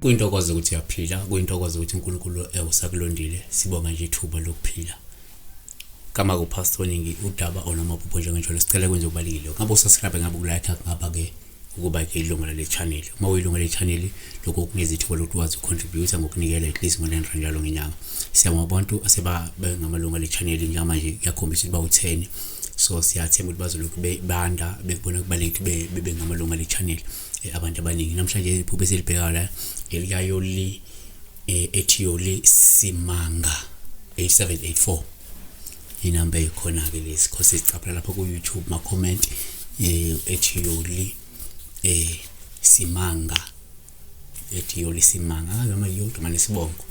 kuyintokozo ukuthi uyaphila kuyintokozo ukuthi uNkulunkulu ewusakulondile sibonga nje ithuba lokuphila kama kupastor ningi udaba onamaphupho njengenjalo sicela kwenze ubalekile ngabe usubscribe ngabe ukulike ngaba ke ukuba ke ilungu lale channel uma uyilungu lale channel lokho kunikeza ithuba lokuthi wazi ucontribute ngokunikela at least ngo-9 rand njalo ngenyanga siyabonga abantu aseba bengamalungu ale channel njengamanje kuyakhombisa ukuba utheni so siyathemba ukuthi bazolokhu bebanda bekubona kubalulekile ukuthi bebe ngamalungu ale channel eh, abantu abaningi namhlanje iphupho esilibhekayo la elikayoli eh, ethi yoli simanga 8784 inamba ekhona-ke lezi khose sicaphala lapho ku-youtube ma-comment um ethi yoli um simanga ethi yoli simanga angazi ama yoli gama nesibongo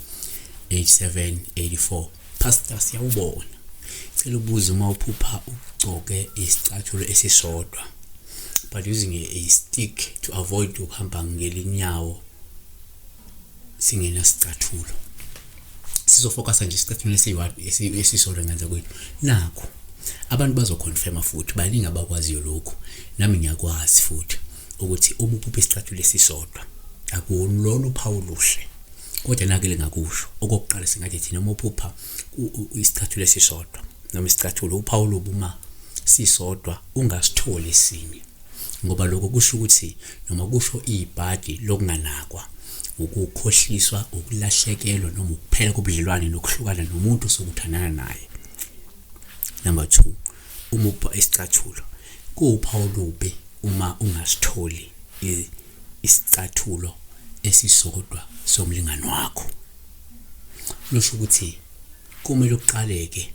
8784 pastor siyawubona cela ubuze uma uphupha ugcoke isicathulo esisodwa but using a, a stick to avoid ukuhamba ngelinyawo singenasicathulo sizofokasa nje isicathulo esisodwa ngenza kwethu nakho abantu bazoconfirma futhi baningi abakwaziyo lokhu nami ngiyakwazi futhi ukuthi uma uphupha isicathulo esisodwa akulona uphawu luhle kodwa nake lingakusho okokuqala singathi thina uma uphupha isicathulo esisodwa noma isicathulo uphawu lobuma sisodwa ungasitholi esinye ngoba lokho kusho ukuthi noma kusho ibhadi lokunganakwa ukukhohliswa ukulahlekelwa noma ukuphela kobudlelwane nokuhlukana nomuntu sokuthandana naye number 2 uma ubha isicathulo kuwuphawu lubi uma ungasitholi isicathulo esisodwa somlingani wakho lusho ukuthi Kumele uqaleke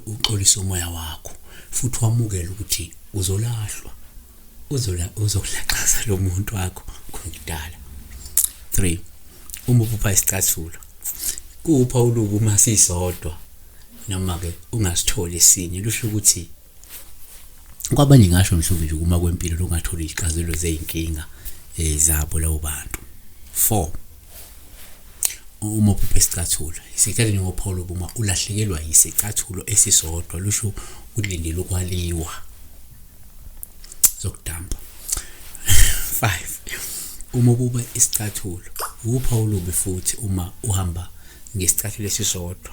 uxolise umoya wakho futhi wamukele ukuthi uzolahlwa uzola uzolaxaza lo muntu wakho kungidala 3 uma uphupha isicathulo kupha uluku uma sisodwa noma ke ungasitholi sinye lusho ukuthi kwabanye ngasho mhlawumbe nje kuma kwempilo longatholi izixazelo zey'nkinga um eh, zabo labo bantu four uma uphuphe isicathulo isikhathi njengophawulo buma ulahlekelwa yisicathulo esisodwa lusho ulindele ukwaliwa zokudamba five uma ububa isicathulo wupha olubi futhi uma uhamba ngesicathulo esisodwa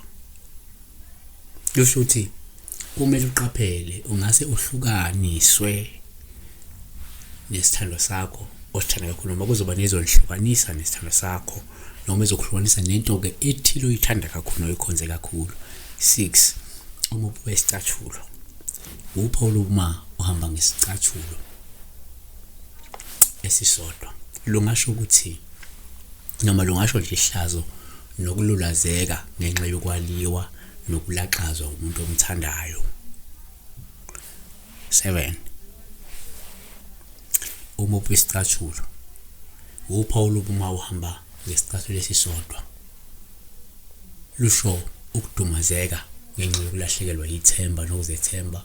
kusho ukuthi kumele uqaphele ungase uhlukaniswe nesithando sakho osithanda kakhulu noma kuzoba nezonihlukanisa nesithando sakho noma ezokuhlukanisa nento-ke ethile oyithanda kakhulu noyikhonze kakhulu six uma ubuka isicathulo uphawula uma uhamba ngesicathulo esisodwa lungasho ukuthi noma lungasho nje ihlazo nokululazeka ngenxa yokwaliwa nokulaxazwa umuntu omthandayo. 7 uma uphi isicathulo upha ulubuma uhamba ngesicathulo esisodwa lusho ukudumazeka ngenxa yokulahlekelwa yithemba nokuzethemba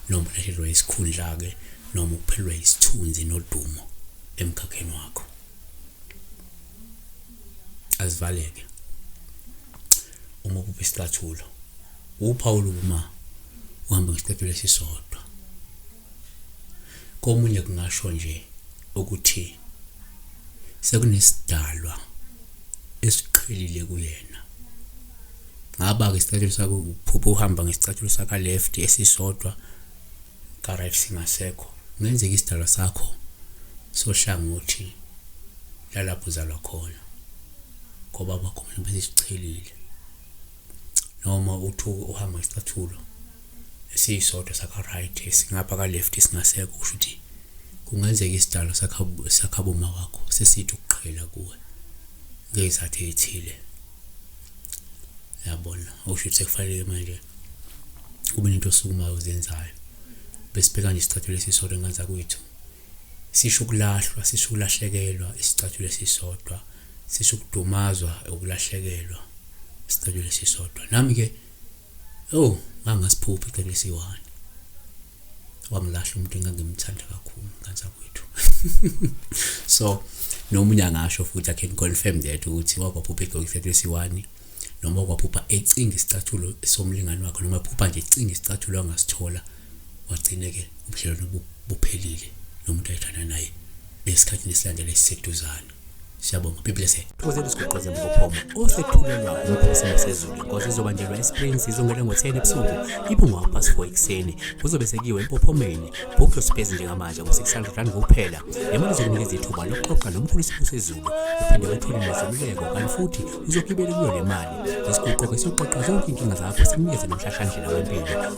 noma ukulahlekelwa isikhundla-ke noma ukuphelelwa yisithunzi nodumo emkhakheni wakho azivaleke uma uphupha isicathulo uphawula uma uhamba ngesicathulo esisodwa komunye kungasho nje ukuthi sekunesidalwa esiqhelile kuyena ngaba-ke isicathulo sakho uphupha uhamba ngesicathulo saka-left esisodwa ka-right singasekho kungenzeka isidalwa sakho sohlangothi so nalapho uzalwa khona ngoba bakhona bezichelile noma uthuke uhamba isicathulo esiyisodwa saka-right esingapha ka-left esingasekho kusho ukuthi kungenzeka isidalo sakhaboma wakho sesithi ukuqhela kuwe ngezathu eyithile yabona usho ukuthi sekufanele manje kube nento osukumayo uzenzayo besibheka nje isicathulo esisodwa ngenzakuyithu sisho ukulahlwa sisho ukulahlekelwa isicathulo esisodwa sisho ukudumazwa ukulahlekelwa isicathulo esisodwa nami ke oh ngangasiphuphi icathulo esiyi-one wangilahla umuntu engangimthanda kakhulu kansa kwethu so nomunye angasho futhi i can confirm that ukuthi wakwaphupha egqoke isicathulo esiyi-one noma kwaphupha ecinga isicathulo somlingani wakhe noma phupha nje ecinga isicathulo angasithola wagcine ke ubudlelwano buphelile nomuntu ayithanda naye esikhathini esilandela esiseduzane siyabonga be blessed thokozela isiguqo zemvophomo osethulelwa ngumphosela sezulu inkosi izobanjelwa esprings izongena ngo-10 ebusuku ibungwa past 4 ekuseni kuzobe sekuyiwe empophomeni book your space njengamanje ngo-600 rand kuphela le mali izokunikeza ithuba lokuxoxa nomkhulu isipho sezulu uphinde wethole nezeluleko kanti futhi uzogibela kuyo le mali lesiguqo-ke siyoxoxa zonke inkinga zakho sikunikeze nomhlahlandlela wempilo